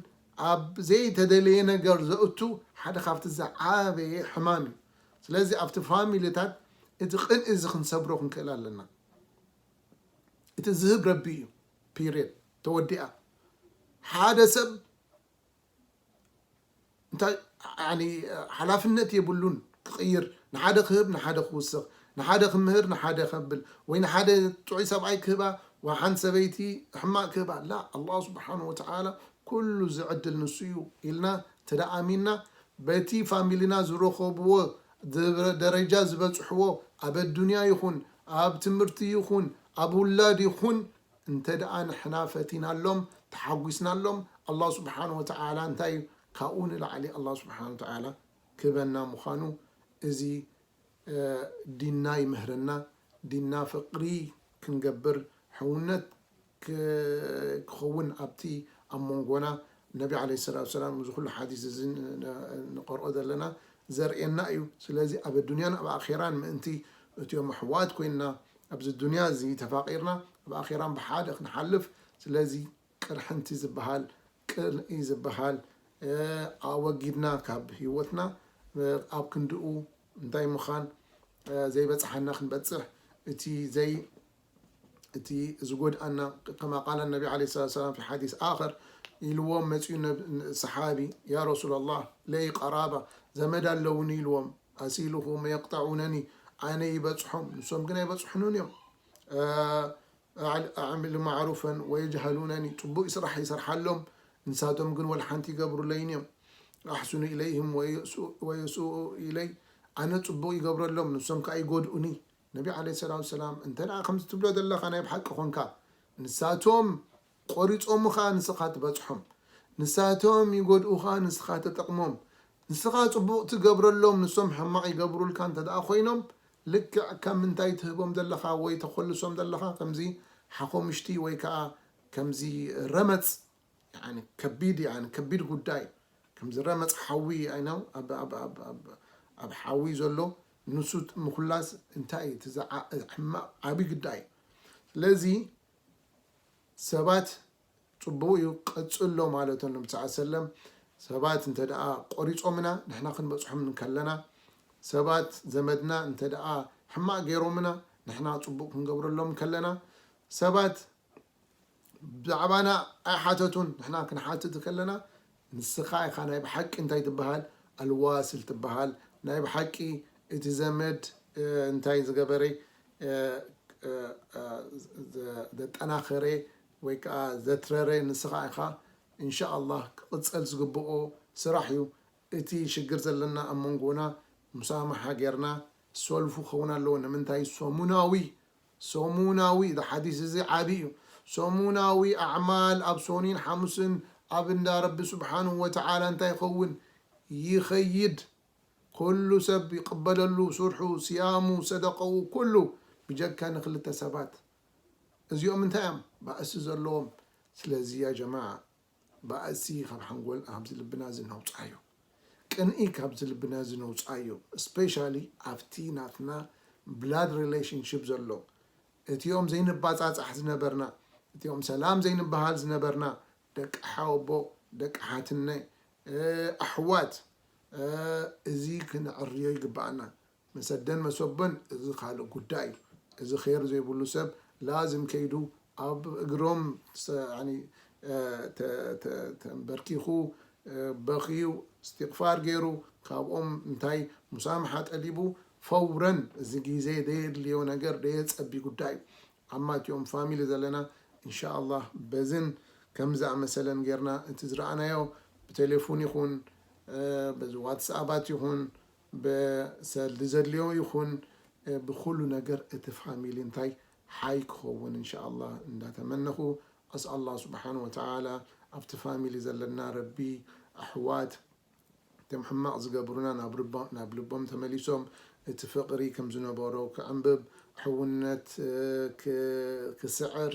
ኣብ ዘይተደለየ ነገር ዘእቱ ሓደ ካብቲ ዝዓበየ ሕማም እዩ ስለዚ ኣብቲ ፋሚሊታት እቲ ቅንኢ እዚ ክንሰብሮ ክንክእል ኣለና እቲ ዝህብ ረቢ እዩ ፒሬድ ተወዲኣ ሓደ ሰብ እንታይ ያኒ ሓላፍነት የብሉን ክቅይር ንሓደ ክህብ ንሓደ ክውስኽ ንሓደ ክምህር ንሓደ ከብል ወይ ንሓደ ጥዑይ ሰብኣይ ክህባ ወሓንቲ ሰበይቲ ሕማቅ ክህባ ላ ኣላህ ስብሓን ወተዓላ ኩሉ ዝዕድል ንሱ እዩ ኢልና እንተ ኣሚንና በቲ ፋሚሊና ዝረኸብዎ ደረጃ ዝበጽሕዎ ኣብ ኣዱንያ ይኹን ኣብ ትምህርቲ ይኹን ኣብ ውላድ ይኹን እንተድኣ ንሕና ፈቲናሎም ተሓጒስናሎም ኣላህ ሱብሓነሁ ወተዓላ እንታይ እዩ ካብኡ ንላዕሊ ኣላህ ሱብሓነሁ ወተዓላ ክህበና ምዃኑ እዚ ዲንና ይምህረና ዲንና ፍቕሪ ክንገብር ሕውነት ክኸውን ኣብቲ ኣብ ሞንጎና ነቢ ዓለይሂ ሰላቱ ወሰላም እዚ ኹሉ ሓዲስ እዚ ንቐርኦ ዘለና ዘርእየና እዩ ስለዚ ኣብ ኣዱንያን ኣብ ኣኼራን ምእንቲ እትዮም ኣሕዋት ኮይንና ኣብዚ ዱንያ እዚ ተፋቂርና ኣብ ኣኼራን ብሓደ ክንሓልፍ ስለዚ ቅርሕንቲ ዝብሃል ቅንኢ ዝብሃል ኣወጊድና ካብ ሂወትና ኣብ ክንድኡ እንታይ ምኻን ዘይበጽሓና ክንበጽሕ እቲ ዘይ እቲ ዝጎድኣና ከማ ቃለ ነቢ ዓለይሂ ሰላቱ ወሰላም ፊ ሓዲስ ኣኸር ኢልዎም መጺኡ ሰሓቢ ያ ረሱለላህ ለይ ቀራባ ዘመድ ኣለውኒ ኢልዎም ኣሲልኹም የቅጠዑነኒ ኣነ ይበፅሖም ንሶም ግን ኣይበፅሑንን እዮም ኣዕምል ማዕሩፈን ወየጅሀሉነኒ ፅቡቅ ስራሕ ይሰርሓሎም ንሳቶም ግን ወልሓንቲ ይገብሩለይን እዮም ኣሕስኑ ኢለይህም ወየስኡኡ ኢለይ ኣነ ፅቡቅ ይገብረሎም ንሶም ከዓ ይጎድኡኒ ነቢ ዓለይሂ ሰላቱ ወሰላም እንተ ከምዚ ትብሎ ዘለካ ናይ ብሓቂ ኾንካ ንሳቶም ቆሪጾሙ ከኣ ንስኻ ትበጽሖም። ንሳቶም ይጎድኡኻ ንስኻ ትጠቅሞም። ንስኻ ጽቡቅ ትገብረሎም ንሶም ሕማቅ ይገብሩልካ እንተደኣ ኮይኖም ልክዕ ከም ምንታይ ትህቦም ዘለኻ ወይ ተኾልሶም ዘለኻ ከምዚ ሓኾምሽቲ ወይ ከኣ ከምዚ ረመጽ ያኒ ከቢድ ያኒ ከቢድ ጉዳይ ከምዚ ረመጽ ሓዊ ኣይ ነው ኣብ ኣብ ኣብ ኣብ ኣብ ሓዊ ዘሎ ንሱ ምኹላስ እንታይ እዩ እቲ ዝዓ ሕማቅ ዓቢ ግዳይ ስለዚ ሰባት ጽቡቅ እዩ ቀጽሎ ማለቶም ነቢ ሰለላሁ ዐለይሂ ወሰለም ሰባት እንተድኣ ቆሪጾምና ንሕና ክንበጽሖም እንከለና ሰባት ዘመድና እንተድኣ ሕማቅ ጌሮምና ንሕና ጽቡቅ ክንገብረሎም እንከለና ሰባት ብዛዕባና ኣይሓተቱን ንሕና ክንሓትት ከለና ንስኻ ኢኻ ናይ ብሓቂ እንታይ ትብሃል ኣልዋስል ትብሃል ናይ ብሓቂ እቲ ዘመድ እንታይ ዝገበረ ዘጠናኸረ ወይ ከኣ ዘትረረ ንስኻ ኢኻ እንሻኣላህ ክቕጸል ዝግብኦ ስራሕ እዩ እቲ ሽግር ዘለና ኣብ መንጎና ሙሳማሓ ጌርና ሰልፉ ክኸውን ኣለዎ ንምንታይ ሰሙናዊ ሰሙናዊ፣ እዚ ሓዲስ እዚ ዓቢ እዩ፣ ሰሙናዊ ኣዕማል ኣብ ሶኒን ሓሙስን ኣብ እንዳ ረቢ ሱብሓነሁ ወተዓላ እንታይ ይኸውን? ይኸይድ። ኩሉ ሰብ ይቕበለሉ ስርሑ፣ ስያሙ፣ ሰደቐኡ ኩሉ ብጀካ ንኽልተ ሰባት። እዚኦም እንታይ እዮም? ባእሲ ዘለዎም። ስለዚ ያ ጀማዓ ባእሲ ካብ ሓንጎልና ካብዚ ልብና እዚ ነውጻዮ ቅንኢ ካብዚ ልብና እዚ ነውጻዮ ስፔሻሊ ኣብቲ ናትና ብላድ ሪለሽንሽፕ ዘሎ እቲኦም ዘይንባጻጻሕ ዝነበርና እቲኦም ሰላም ዘይንበሃል ዝነበርና ደቂ ሓወቦ ደቂ ሓትነ ኣሕዋት እዚ ክንዕርዮ ይግባኣና መሰደን መሶበን እዚ ካልእ ጉዳይ እዩ። እዚ ኼር ዘይብሉ ሰብ ላዝም ከይዱ ኣብ እግሮም ተምበርኪኹ በኽዩ እስቲቕፋር ገይሩ ካብኦም እንታይ ሙሳምሓ ጠሊቡ ፈውረን እዚ ግዜ ዘየድልዮ ነገር ዘየጸቢ ጉዳይ እዩ። ኣማ እቲኦም ፋሚሊ ዘለና እንሻኣላህ በዝን ከምዚ ዝኣመሰለን ጌርና እቲ ዝረኣናዮ ብቴሌፉን ይኹን በዚ ዋትስኣባት ይኹን ብሰልዲ ዘድልዮ ይኩን ብኩሉ ነገር እቲ ፋሚሊ እንታይ ሓይ ክከውን እንሻኣላህ እንዳተመነኩ ኣስኣል ኣላህ ሱብሓነሁ ወተዓላ ኣብቲ ፋሚሊ ዘለና ረቢ ኣሕዋት እቶም ሕማቅ ዝገብሩና ናብ ልቦም ተመሊሶም እቲ ፍቅሪ ከምዝነበሮ ክዕምብብ ሕውነት ክስዕር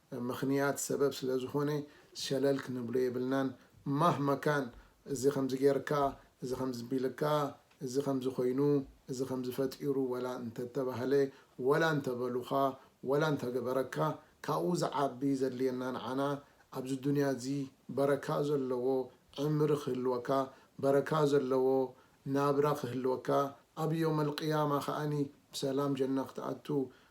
ምኽንያት ሰበብ ስለዝኾነ ሸለል ክንብሎ የብልናን ማህማ ካን እዚ ከምዚ ጌርካ እዚ ከምዚ ቢልካ እዚ ከምዚ ኮይኑ እዚ ከምዚ ፈጢሩ ወላ እንተተባህለ ወላ እንተበሉኻ ወላ እንተገበረካ ካብኡ ዝዓቢ ዘድልየና ንዓና ኣብዚ ዱንያ እዚ በረካ ዘለዎ ዕምሪ ክህልወካ በረካ ዘለዎ ናብራ ክህልወካ ኣብ ዮመል ቂያማ ከኣ ብሰላም ጀና ክትኣቱ